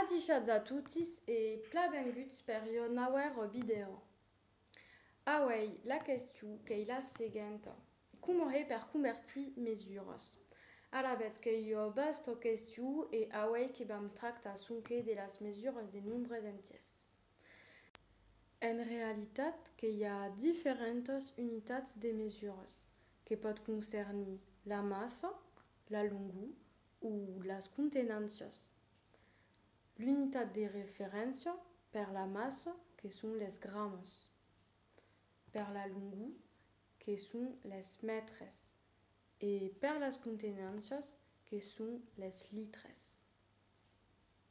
Adishatz a totis e plabenguts per iò nauèr vidèo. Auèi la question qu'ei la seguenta, coma hèi per convertir mes uras? Alavetz qu'ei iò basta question e auèi que vam tractar sonque de las mesuras de nombres entièrs. En realitat qu'ei a diferentas unitats de mesuras, que pòt concernir la massa, la longor, o las contenàncias, l'unitat de referéncia per la massa que son les gramas, per la longor que son les mètres e per las contenàncias que son les litres.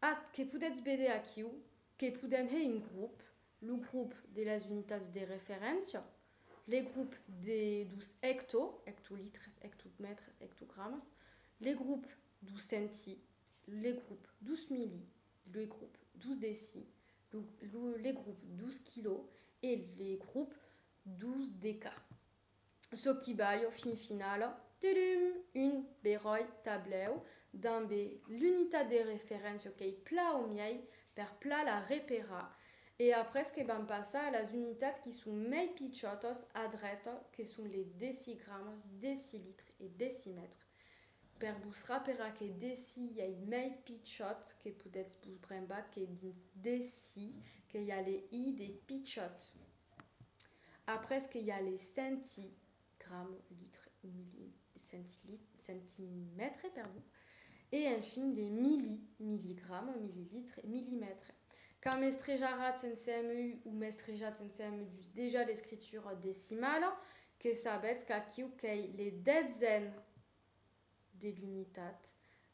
Ath que podetz véder aquiu, que podem hèr un grop, lo grop de las unitats de referéncia, le grop de, dos hecto, hectolitres, hectomètres, hectogramas, le grop dos centi, le grop dos mili, le grop dos deci, le grop dos quilò e le grop dos deca. çò qui balh au fin finala, tudum, un beròi tablèu dambe l'unitat de referéncia qu'ei pla au miei per pla la reperar e après que vam passar a las unitats qui son mei pichòtas a dreta que son le decigramas, decilitre e decimètre, per vos raperar que deci ei mei pichòt que podètz vos brembar que dins deci que i a le i de pichòt. Après que i a le centi, gramo, litre o milli, centi, centimètre, perdon, e enfin de milli, milligramo, millilitre, millimètre. Quand m'estrejaratz en CMU o m'estrejatz en CMU just dejà l'escritura decimala, que sabetz qu'aquiu qu'ei le detzen, de l'unitat,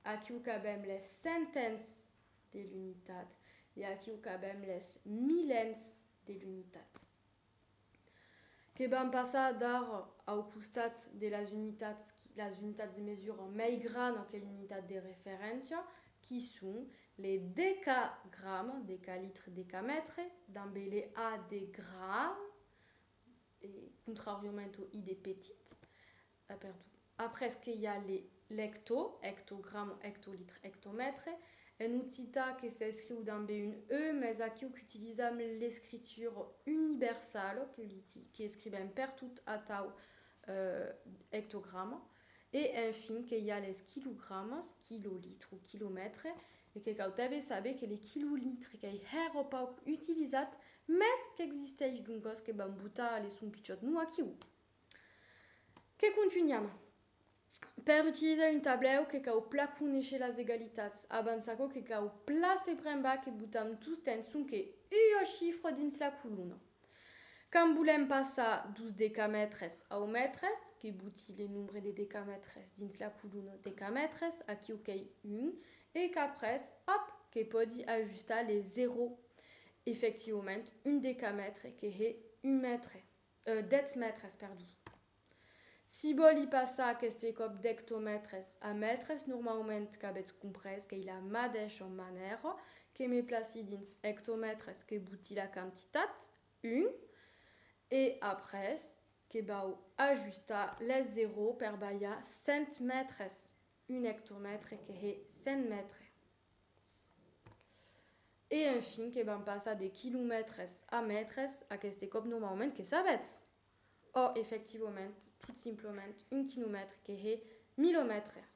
aquiu qu'avèm les centens de l'unitat e aquiu qu'avèm les milens de l'unitat. Que vam passar d'ar au costat de las unitats, las unitats de mesura mei grana que l'unitat de referéncia, qui son le decagram, decalitre, decamètre, damb le A de gran, e contrariament au I de petit, A perdut. Après que i a le l'hecto, hectogram o hectolitre, hectomètre, en occitan que s'escriu dambe un e, mès aquiu qu'utilizam l'escritura universala, qu'escrivèm pertot atau hectograma, e enfin que i a les quilogramas, quilolitre o quilomètre, e que cautève saber que le quilolitre qu'ei hèra pauc utilizat, mès qu'existeish, doncas que vam botar a le son pichòt, non aquiu! Que contunham? Per utilizar un tablèu que cau pla conéisher las egalitats. Abans aquò que cau pla se prembar que botam tostemps sonque ua chifra dins la colona. Quand volem passar dos decamètres au mètres, que boti le nombre de decamètres dins la colona decamètres, aquiu qu'ei 1, e qu'après, òp, que pòdi ajustar le 0. Efectivament, un decamètre que hè un mètre. Dètz mètres, perdon. Si vòli passar aqueste còp d'ectomètres a mètres, normaument qu'avètz comprés qu'ei la madeisha manèra que me placi dins ectomètres que boti la quantitat, un, e après que vau ajustar lèth zeró per balhar cent mètres, un ectomètre que hè cent mètres. E enfin que vam passar de quilomètres a mètres, aqueste còp non m'augment, que sabètz! Ò, efectivament, tot simplement un quilomètre que hè milomètres!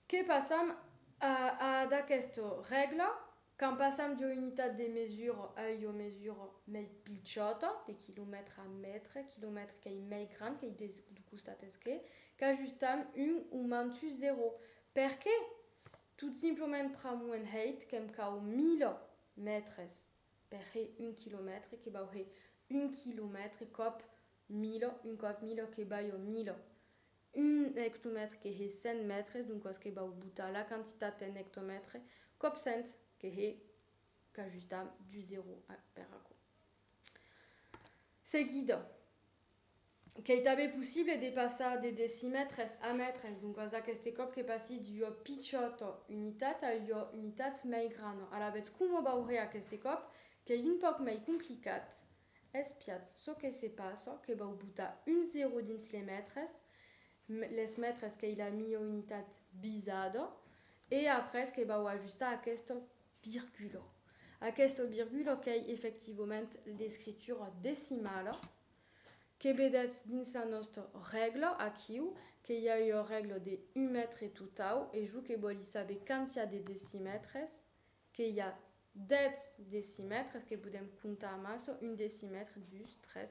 Que passam a a d'aqueste règla, quand passam d'ua unitat de mesura a ua mesura mei pichòta, de quilomètre a mètre, quilomètre qu'ei mei grand qu'ei de costat esquer, qu'ajustam un o mantus zero. Perqué? Tot simplement pr'amor en hèit que'm cau mila mètres per hè un quilomètre, que vau hè un quilomètre còp mila, un còp mila que vai a mila. Un ectomètre que hè cent mètres, doncas que vau botar la quantitat en ectomètre, còp cent, que hè, qu'ajustam du zero per aquò. Seguida. qu'ei tanben possible de passar de decimètres a mètres, doncas aqueste còp que passi d'ua pichòta unitat a ua unitat mei grana. Alavetz coma veuré aqueste còp qu'ei un pauc mei complicat, espiatz çò que se passa que vau botar un zero dins les mètres, les mètres qu'ei la miei unitat bisada, e après que vau ajustar aquesta Virgula. Aquesta virgula qu'ei efectivament l'escritura decimala que vedètz dins la nòsta règla aquiu, que i a ua règla de un mètre totau e jo que vòli saber quantiá de decimètres, que i a 10 decimètres que podèm comptar amassa, un decimètre, dus, tres,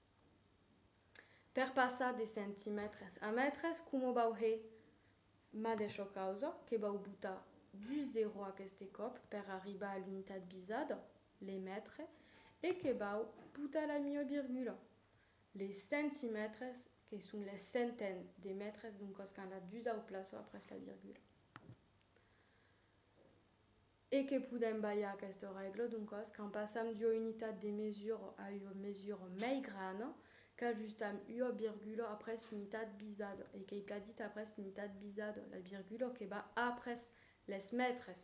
Per passar de centimètres a mètres, coma vau hè ma d'aisho causa que vau botar du zero aqueste còp per arribar a l'unitat visada, le mètre, e que vau botar la mieu virgula, le centimètres, que son les centaines de mètres, doncas quand la dusau plaça après la virgula. E que podèm balhar aquesta règla, doncas, quand passam d'ua unitat de mesura a ua mesura mei grana, qu'ajustam ua virgula après l'unitat bisada, e qu'ei plan dit après l'unitat bisada, la virgula que va après les mètres.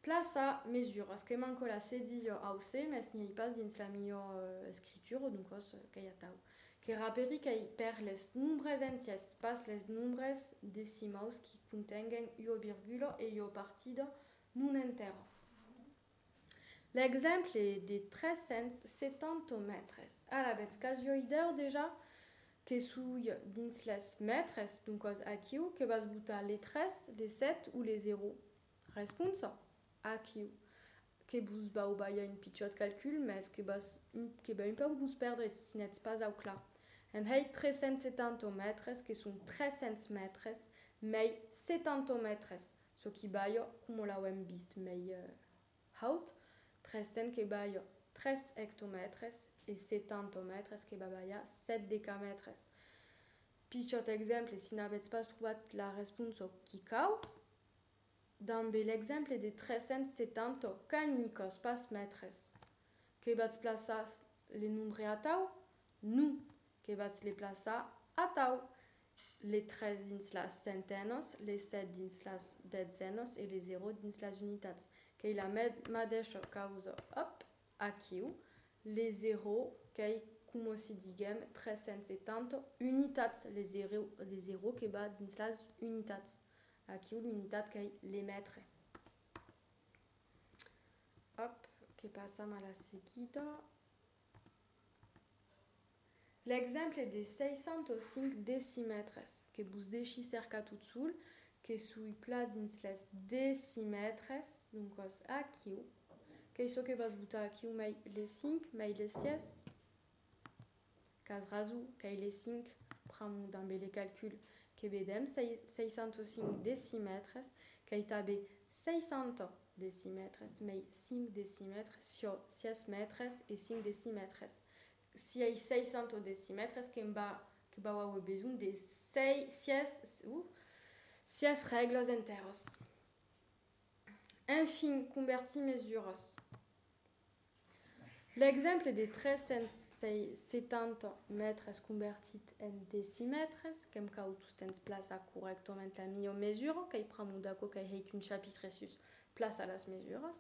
Plaça, mesuras, que manco la cedi jo au se, mès n'i ei pas dins la milhor escritura, doncòs qu'ei atau. Que raperi qu'ei per les nombres entiers, pas les nombres decimaus qui contenguen ua virgula e ua partida non entèra. L'exemple des 370 mètres, alavetz qu'as jo idèu dejà Que soi dins les mètres, doncas aquiu que vas botar le 3, le 7 o le 0? Responsa, Aquiu. Que vos vau balhar un pichòt calcul, mès que vas que va un pauc vos pèrdre si n'ètz pas au clar. Èm hèi 370 au mètres, que son 300 mètres, mei 70 au mètres, çò qui balha coma l'auem vist, mei. Haut, tres cents que balha tres ectomètres e setantomètres que va balhar sèt decamètres. Pichòt exemple, si n'avètz pas trobat la responsa qui cau, dambe l'exemple de tres cents setanta qu'anicòs pas mètres, que vatz plaçar le nombre atau? Non, que vatz le plaçar atau! le tres dins las centenhos, le set dins las detzènhos e le zero dins las unitats, qu'ei la madeisha causa, òp! aquiu, le zero qu'ei coma si diguem 370 unitats, le zero, le zero que va dins las unitats, aquiu l'unitat qu'ei le mètre. Òp! que passam a la seguida. L'exemple de 605 decimètres, que vos deshi cercar tot sol, que soi plan dins les decimètres, doncas aquiu, qu'ei çò que vas botar aquiu, mai les 5, mai les 6, qu'as raso, qu'ei les 5, pr'amor dambe le calcul que vedèm, 605 decimètres, qu'ei tanben 600 decimètres, mei cinc decimètres, siò sièis mètres e cinc decimètres, sièis seis cents decimètres que va que vau auer besonh de sei sièis uh sièis règles entèros. Enfin, convertir mesuras. L'exemple de 370 mètres convertit en decimètres, qu'èm cau tostemps plaçar corrèctament la milhor mesura, qu'ei pr'amor d'aquò qu'ei hèit un chapitre sus plaçar las mesuras,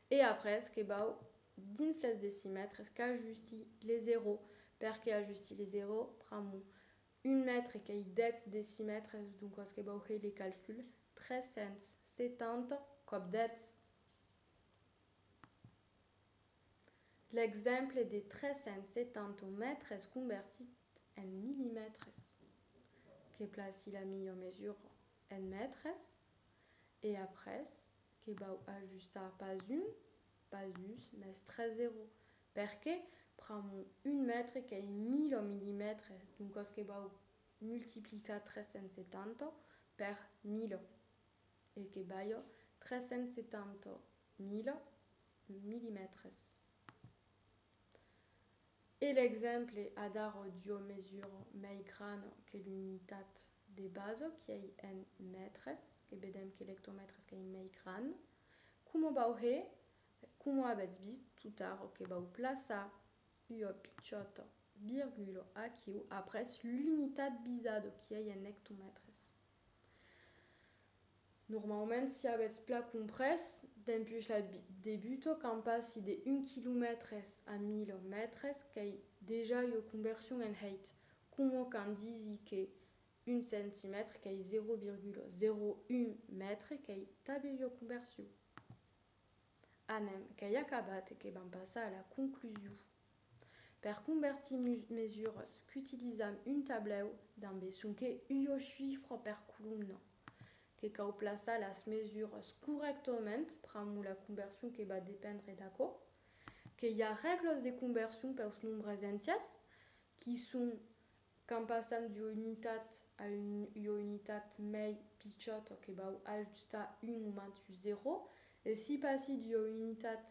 e après que vau dins les decimètres qu'ajusti le zero, perque ajusti le zero pr'amor un mètre qu'ei 10 decimètres, doncas que vau hèir le calcul, 370 còp 10. L'exemple de 370 mètres convertit en millimètres que placi la milhor mesura en mètres e après que vau ajustar pas un, pas dus, mas tres zero perque pramo un mètre qu'ei 1000 millimètres doncas que vau multiplicar 370 per 1000. e que balhò 370 mila milimètres e l'exemple adarò d'ua mesura mei grana que l'unitat de basa qu'ei en mètres e vedèm que l'ectomètres qu'ei mei gran coma vau hè coma avètz vist totara que vau plaçar ua pichòta virgula aquiu après l'unitat bizada qu'ei en ectomètres Normalament, si avètz plan comprés, dempuèi la debuta quand passi de 1 quilomètre a 1000 mètres qu'ei dejà ua conversion en hèit, coma quand disi que 1 centimètre qu'ei 0,01 mètre qu'ei tanben ua conversion. Anem, qu'ei acabat e que vam passar a la conclusion. Per convertir mus mesuras, qu'utilisam un tablèu damb es sonque ua chifra per colomna, que cau plaçar las mesuras corrèctament, pramo la conversion que va dependre d'aquò, que i a règlas de conversion peus nombres entiers qui son Quand passam d'ua unitat a ua unitat mei pichòt o que vau ajustar un o mantus zero, e si passi d'ua unitat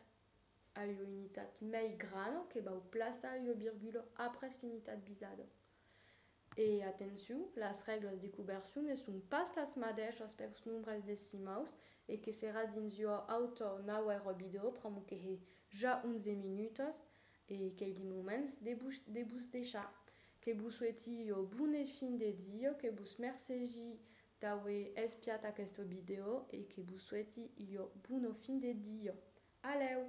a ua unitat mei gran o que vau plaçar ua virgula après l'unitat visada. E atenciu, las règlas de coversion ne son pas las madèishas pels nombres decimaus e que serà dins ua auta naue robidor pr'amor que hè ja 11 minutas E qu'ei de moments de vos de vos deishar. Que vos soueti ua bona fin de dia, que vos mercegi d'aver espiat aquesta vidèo e que vos soueti ua bona fin de dia. Alèu!